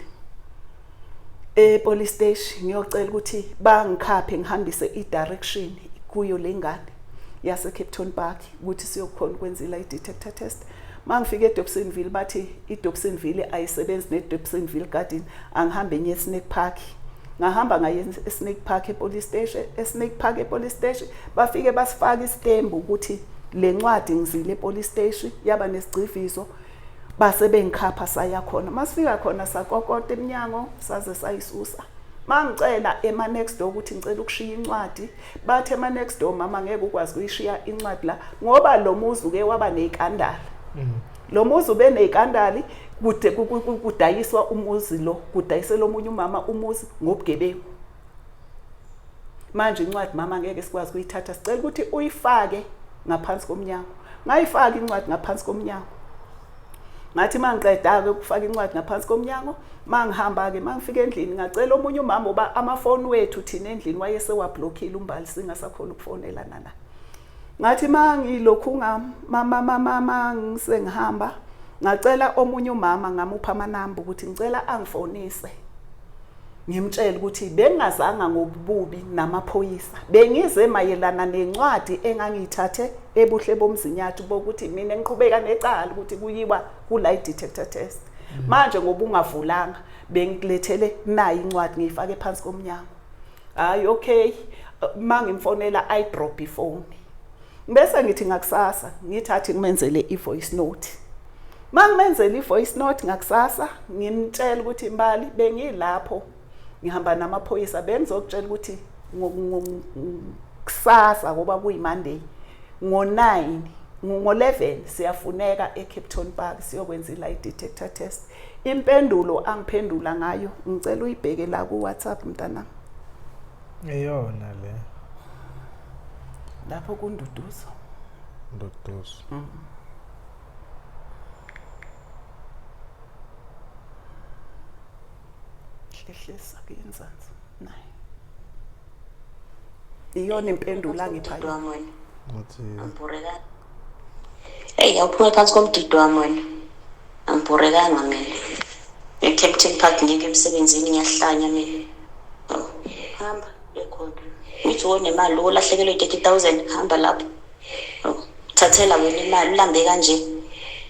epolice station ngiyocela ukuthi bangikhaphe ngihambise i-direction kuyo le ngane yasecape town park ukuthi siyokhona ukwenza i-detector test mangifika edobsonville bathi idobsonville ayisebenzi nedobsonville garden angihambe enye esnake park ngahamba ngaye eSnake Park ePolice Station eSnake Park ePolice Station bafike basifaka isitembu ukuthi le ncwadi ngizile ePolice Station yaba nesigciviso base bengikhapha saya khona masifika khona sakokota eminyango saze sayisusa mangicela ema next door ukuthi ngicela ukushiya incwadi bathe ema next door mama ngeke ukwazi kuyishiya incwadi la ngoba lo muzi uke waba nezikandala mm. lo muzi ube nekandali kude kudayiswa umuzi lo kudayisela omunye umama umuzi ngobugebengu manje incwadi mama ngeke sikwazi ukuyithatha sicela ukuthi uyifake ngaphansi komnyango ngayifaka incwadi ngaphansi komnyango ngathi mangiqeda-ke ukufaka incwadi ngaphansi komnyango mangihamba-ke mangifika endlini ngacela omunye umama uba amafoni wethu thina endlini wayesewablokhile umbali singasakhona ukufonelana na ngathi mangilokhu ngamama mama ngisengihamba ngacela omunye umama ngamupha amanamba ukuthi ngicela angifonise ngimtshela ukuthi bengingazanga ngobubi namaphoyisa bengize mayelana nencwadi engangiyithathe ebuhle bomzinyathi bokuthi mina ngiqhubeka necala ukuthi kuyiwa kula detector test manje ngoba ungavulanga bengikulethele nayi incwadi ngiyifake phansi komnyango hayi okay uma ngimfonela i drop ifone bese ngithi ngakusasa ngithathi ngimenzele i-voice note uma ngimenzela i-voice note ngakusasa ngimtshela ukuthi mbali bengilapho ngihamba namaphoyisa bengizokutshela ukuthi kusasa ngoba kuyimonday ngo-9 ngo-11 siyafuneka ecape town park siyokwenza i-lie detector test Impendulo angiphendula ngayo ngicela uyibheke la ku WhatsApp mntanami. Eyona le. Lapho kunduduzo. Nduduzo. Mm -hmm. hlehlisa kuyenzansi naye iyona impendulo angipha yona eyi awuphume phansi komdido wami wena angibhorekanga mina ecaptain park ngeke emsebenzini ngiyahlanya mina Oh, hamba ekhona uthi wonemali wolahlekelwe i-thirty thousand hamba lapho Oh, thathela wena imali ulambe kanje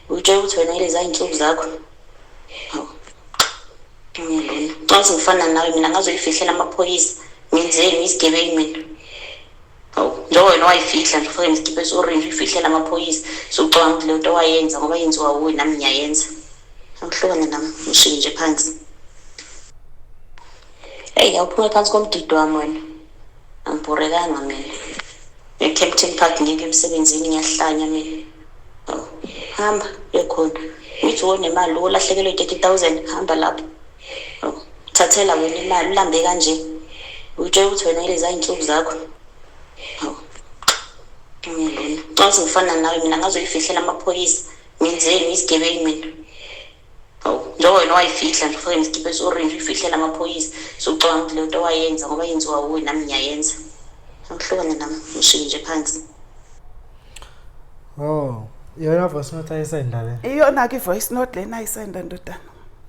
utshela ukuthi wena ilezi ayinsuku zakho Oh, ngiyalena. Nxa sengifana nawe mina ngazoyifihlela amaphoyisa ngenzeni isigebengu mina njengoba wena wayifihla nje ufake nesikipa esorenji uyifihlela amaphoyisa sucabanga ukuthi leyo nto wayenza ngoba yenziwa wuwe nami ngiyayenza angihlukane nami ngishike nje phansi eyi awuphume phansi komdido wami wena angibhorekanga mina ecaptain park ngeke emsebenzini ngiyahlanya mina hamba yokhona uthi wonemali olahlekelwe i-thirty thousand hamba lapho thathela wena imali ulambe kanje utshela ukuthi wena leza iy'nsuku zakho ngilona xa uthi ngifana nawe mina ngazoyifihlela amaphoyisa ngenzeni isigebengu mina hawu njengoba wena wayifihla nje ufake nesikipa esi-orange uyifihlela amaphoyisa sucabanga ukuthi le nto wayenza ngoba yenziwa wuwe nami ngiyayenza akuhlukane nami ngishike nje phansi Oh, iyona voice note ayisenda le. Iyona-ke i-voice note lena ayisenda ndodana.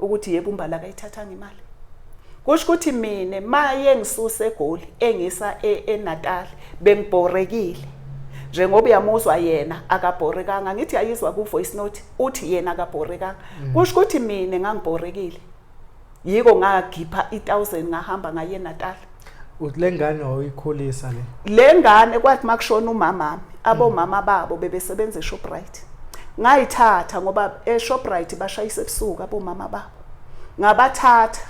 ukuthi yebo umbala akayithathanga imali kusho ukuthi mina maye ngisuse egoli engisa e, eNatal bengibhorekile njengoba uyamuzwa yena akabhorekanga ngithi ayizwa ku voice note uthi yena akabhorekanga mm. kusho ukuthi mina ngangibhorekile yiko ngakhipha i1000 ngahamba ngaye eNatal uthi lengane wayikhulisa le lengane kwathi makushona umama abomama babo bebesebenza eShoprite ngayithatha ngoba eShoprite bashayisa ebusuku abomama babo ngabathatha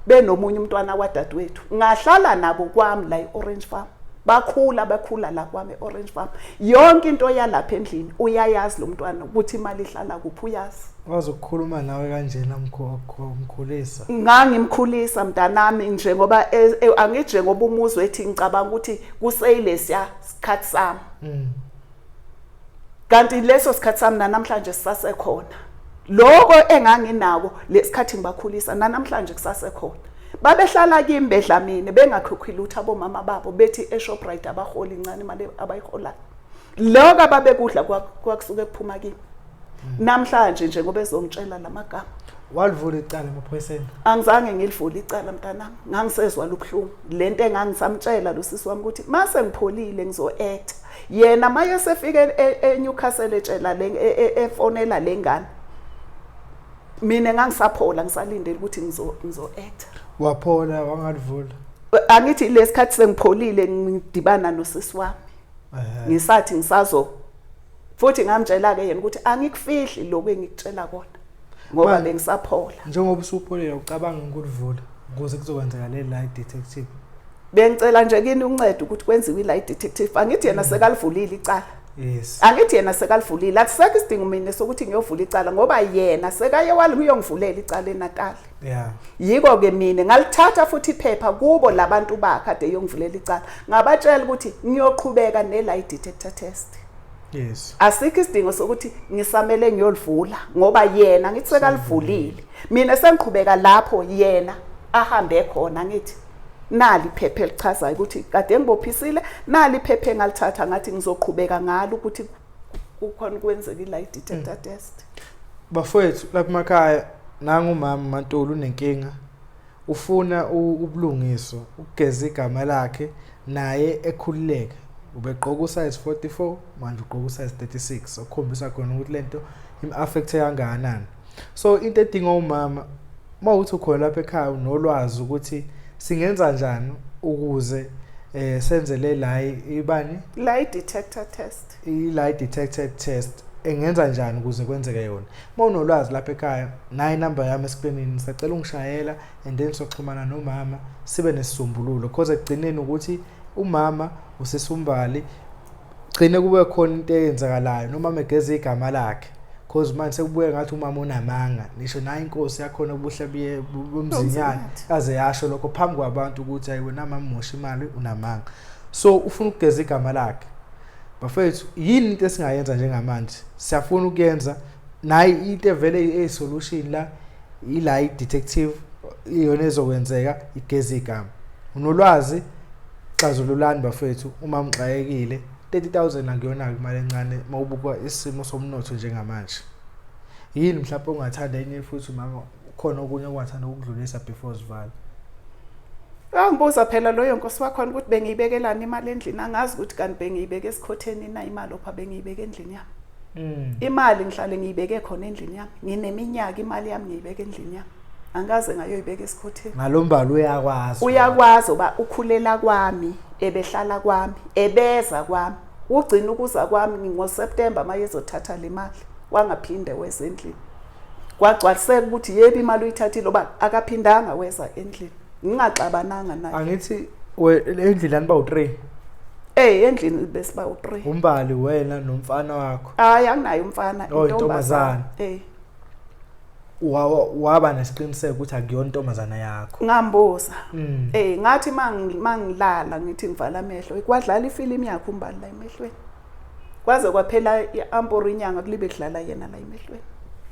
benomunye umntwana wadadewethu ngahlala nabo kwami la e-Orange Farm bakhula bakhula la kwami e-Orange Farm yonke into yalapha endlini uyayazi lo mntwana ukuthi imali ihlala kuphi uyazi Wazi ukukhuluma nawe kanjena mkhulisa. Ngangimkhulisa mntanami nje ngoba e, e, angije ngoba umuzwe ethi ngicabanga ukuthi kuseyilesiya sikhathi sami. Mm. Kanti leso sikhathi sami namhlanje sisasekhona. Lokho enganginako lesikhathi ngibakhulisa namhlanje kusasekhona. Babehlala kimi bedla mina bengakhokhi lutho abomama babo bethi eShoprite abaholi incane imali abayiholayo. lokho ababekudla kwakusuke kuphuma kimi hmm. namhlanje nje ngoba ezongitshela lamagama walivula icala emaphoyiseni angizange ngilivule icala mntanami ngangisezwa lubuhlungu lento engangisamtshela losisi wami ukuthi mase ngipholile ngizo-act yena maye sefike e-, e-, eNewcastle etshela le e-, efonela lengane mina ngangisaphola ngisalindele ukuthi ngizo ngizo-act waphola wangalivula angithi lesikhathi sengipholile ngidibana nosisi wami ngisathi ngisazo futhi ngamtshela ke yena ukuthi angikufihli lokho engikutshela kona ngoba bengisaphola njengoba usupholile ucabanga ukulivula ukuze kuzokwenzeka le lie detective bengicela nje kini uncede ukuthi kwenziwe lie detective angithi yena mm. sekalivulile icala Yes. Angithi yena sekalivulile. Akusekho isidingo mina sokuthi ngiyovula icala ngoba yena sekaye wali kuyongivulela icala eNatal. Yeah. Yiko ke mina ngalithatha futhi iphepha kubo labantu bakhe ade yongivulela icala. Ngabatshela ukuthi ngiyoqhubeka ne lie detector test. Yes. Asikho isidingo sokuthi ngisamele ngiyolivula ngoba yena ngithi sekalivulile. Mina sengiqhubeka lapho yena ahambe khona ngithi nali iphepha elichazayo ukuthi kade ngibophisile nali iphepha engalithatha ngathi ngizoqhubeka ngalo ukuthi kukhona ukwenzeka i-lie detector mm. test bafowethu lapha emakhaya nangu mama mantolo unenkinga ufuna ubulungiswa ukugeza igama lakhe naye ekhululeke ubegqoka usize 44 manje ugqoka usize 36 okukhombisa khona ukuthi lento im-affecte kangakanani so into edinga umama uma uthi ukhona lapha ekhaya unolwazi ukuthi singenza njani ukuze eh senze le la ibani lie detector test i lie detector test engenza njani ukuze kwenzeke yona uma unolwazi lapha ekhaya nayi number yami esikwenini sacela ungishayela and then soxhumana nomama sibe nesisombululo because ekugcineni ukuthi umama usisumbali gcine kube khona into eyenzakalayo noma megeza igama lakhe cause manje sekubuye ngathi umama unamanga nisho naye inkosi yakhona ubuhle buye bomzinyana aze yasho lokho phambi kwabantu ukuthi ayi wena mama mosha imali unamanga so ufuna ukugeza igama lakhe bafethu yini into esingayenza njengamanje siyafuna ukuyenza naye into evele eyisolution la ila i-detective iyona ezokwenzeka igeza igama unolwazi Xazululani bafethu uma mxakekile 30000 akuyona imali encane mawubuka isimo somnotho njengamanje yini mhlawumbe ungathanda enye futhi mama khona okunye ongathanda ukudlulisa before zivala Angibuza phela loyo nkosi wakhona ukuthi bengiyibekelani imali endlini angazi ukuthi kanti bengiyibeke esikhotheni na imali opha bengiyibeke endlini yami mm. imali ngihlale ngiyibeke khona endlini yami ngineminyaka imali yami ngiyibeke endlini yami angikaze ngayoyibeka esikhotheni ngalombala uyakwazi uyakwazi uba ukhulela kwami ebehlala kwami ebeza kwami ugcina ukuza kwami ngoSeptember maye ezothatha le mali wangaphinde weza endlini kwagcwaliseka ukuthi yebo imali uyithathile oba akaphindanga weza endlini ngingaxabananga naye angithi endlini aniba u3 Eh endlini besiba u3 umbali wena nomfana wakho hayi anginayo umfana oh, intombazana eh waba nesiqiniseko ukuthi akuyona intombazana yakho ngambuza mm. eh ngathi mangilala ngithi ngivala amehlo ikwadlala ifilimu yakho umbali la emehlweni kwaze kwaphela iamporo inyanga kulibe kudlala yena la emehlweni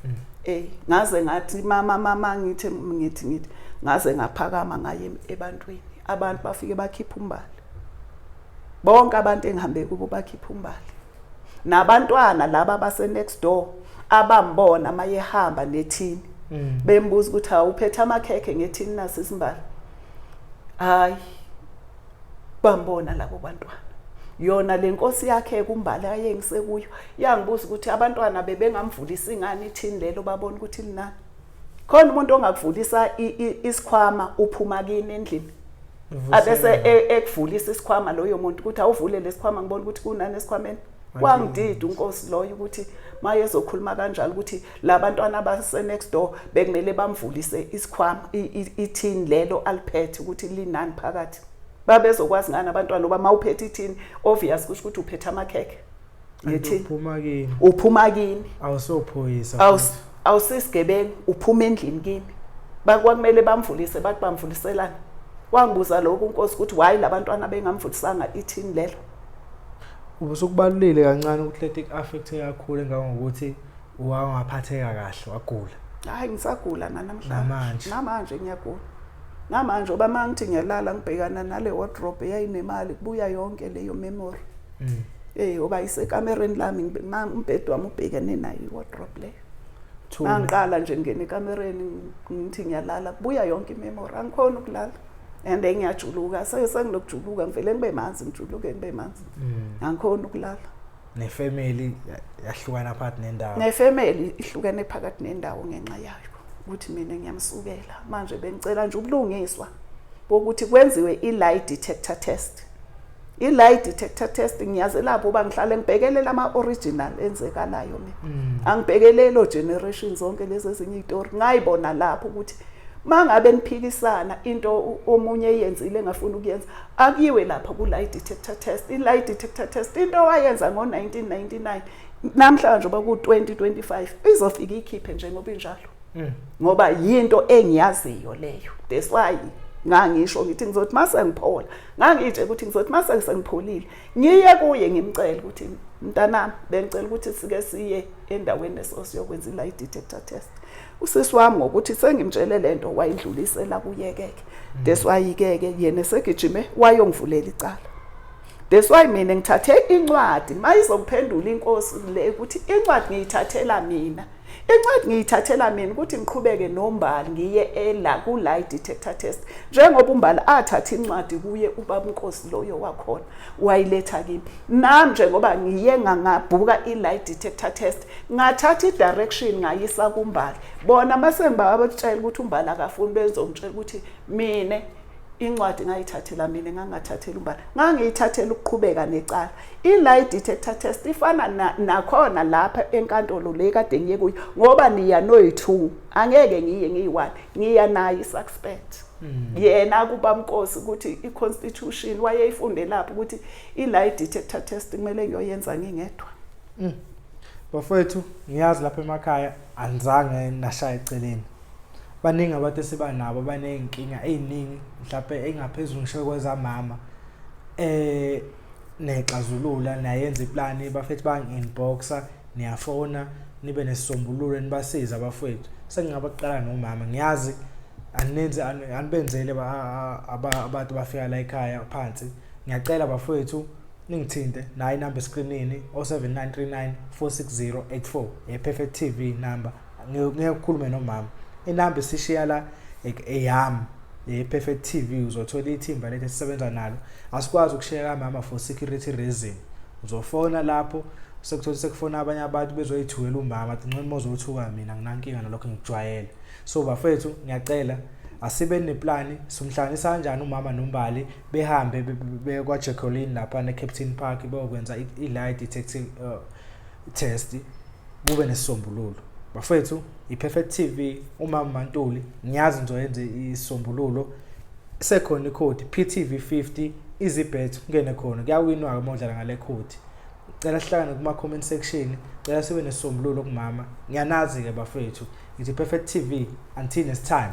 mm. eh ngaze ngathi mama mama ngithi ngithi ngithi ngaze ngaphakama ngaye ebantwini abantu bafike bakhipha umbali bonke abantu engihambe kubo bakhipha umbali nabantwana laba base next door abambona mayehamba nethini mm. bembuza ukuthi awuphethe amakhekhe ngethini nasi isimbala hayi bambona labo bantwana yona lenkosi yakhe kumbali ayengise kuyo yangibuza ukuthi abantwana bebengamvulisa ingane ithini lelo babona ukuthi linani khona umuntu ongakuvulisa isikhwama uphuma kini endlini abese e, ekuvulisa isikhwama loyo muntu ukuthi awuvule lesikhwama ngibona ukuthi kunani esikhwameni wangidida unkosi loyo ukuthi maye ezokhuluma kanjalo ukuthi labantwana abase next door bekumele bamvulise isikhwama ithini lelo aliphethe ukuthi linani phakathi babezokwazi ngani abantwana oba mawuphethe ithini obvious kusho ukuthi uphethe amakhekhe ngithi uphuma kini uphuma kini awusophoyisa awusisigebengu uphuma endlini kini bakwakumele bamvulise bathi bamvuliselana wangibuza lokhu unkosi ukuthi why labantwana bengamvulisanga ithini lelo ubusukubalulile kancane ukuthi leti affect kakhulu ngangokuthi wangaphatheka kahle wagula hayi ngisagula nanamhlanje namanje ngiyagula namanje oba mangithi ngiyalala ngibhekana nale wardrobe eyayinemali kubuya yonke leyo memory mm. hey uba isekamereni lami umbhede wami ubhekene nayo iwardrobe leyo mangiqala nje ngingena ekamereni ngithi ngiyalala kubuya yonke imemory angikhona ukulala and ngiyajuluka sengilokujuluka ngivele ngibe manzi ngijuluke ngibe manzi mm. angikhona ukulala nefamily yahlukana phakathi nendawo nefamily ihlukene phakathi nendawo ngenxa yayo ukuthi mina ngiyamsukela manje bengicela nje ubulungiswa bokuthi kwenziwe i-lie detector test i-lie detector test ngiyazi lapho uba ngihlale ngibhekelela ama-original enzekalayo mina mm. angibhekelelo generation zonke lezi ezinye iy'tori ngayibona lapho ukuthi uma ngabe niphikisana into omunye eyenzile engafuni ukuyenza akuyiwe lapho ku-lie detector test i-lie detector test into owayenza ngo-1999 namhlanje uba ku-2025 izofika ikhiphe njengoba injalo mm. ngoba yinto engiyaziyo leyo that's why ngangisho ngithi ngizothi uma sengiphola ngangitshe ukuthi ngizothi uma seke sengipholile ngiye kuye ngimcele ukuthi mntanami bengicela ukuthi sike siye endaweni esosiyokwenza i-lie detector test usisi wami ngokuthi sengimtshele le nto wayindlulisela kuyekeke mm. that's why ikeke yena esegijime wayongivulela icala that's why mina ngithathe incwadi mayizokuphendula inkosi le ukuthi incwadi ngiyithathela mina incwadi ngiyithathela mina ukuthi ngiqhubeke nombali ngiye ela ku-lie detector test njengoba umbali athatha incwadi kuye ubabunkosi loyo wakhona wayiletha kimi nami njengoba ngiye ngangabhuka i-lie detector test ngathatha i-direction ngayisa kumbali bona uma sengibawabakutshela ukuthi umbali akafuni benzongitshela ukuthi mina incwadi ngayithathela mina ngangathathela umbala ngangiyithathela ukuqhubeka necala i-lie detector test ifana nakhona lapha enkantolo le kade ngiye kuyo ngoba niya noyi-two angeke ngiye ngiyi-one ngiya naye i-suspect hmm. yena kuba mkosi ukuthi i-constitution wayeyifunde lapho ukuthi i-lie detector test kumele ngiyoyenza ngingedwa hmm. bafowethu ngiyazi lapha emakhaya anizange nashaya eceleni baningi abantu esiba nabo abaney'nkinga ey'ningi mhlawumpe engaphezulu ngisho kwezamama eh nexazulula nayenza iplani bafethu bangi-inboxa niyafona nibe nesisombululo nibasize abafowethu sengingabaqala nomama ngiyazi aninzi anibenzele abantu bafika la ekhaya phansi ngiyacela bafowethu ningithinte nayi number screenini 0793946084 ye perfect tv number ngeke ukhulume nomama inamba isishiya la eyami ye-perfect tv uzothola ithimba lethu esisebenza nalo asikwazi ukushiya kamama for security reason uzofona lapho sekuthola sekufona abanye abantu bezoyithukela umama athi nxima ozothuka mina nginankinga nalokho ngijwayele so bafethu ngiyacela asibe neplani simhlanganisa kanjani umama nombali behambe bekwajecolin lapha ne-captain park beyokwenza i-lie detective uh, test kube nesisombululo bafethu i-perfect tv umama mantuli ngiyazi ngizoyenza isisombululo sekhona ikhodi ptv 50 izibet kungene khona kuyawinwa-ke uma udlala ngale khodi cela sihlangane kuma-comment section cela sibe nesisombululo kumama ngiyanazi-ke bafethu ngithi perfect tv until next time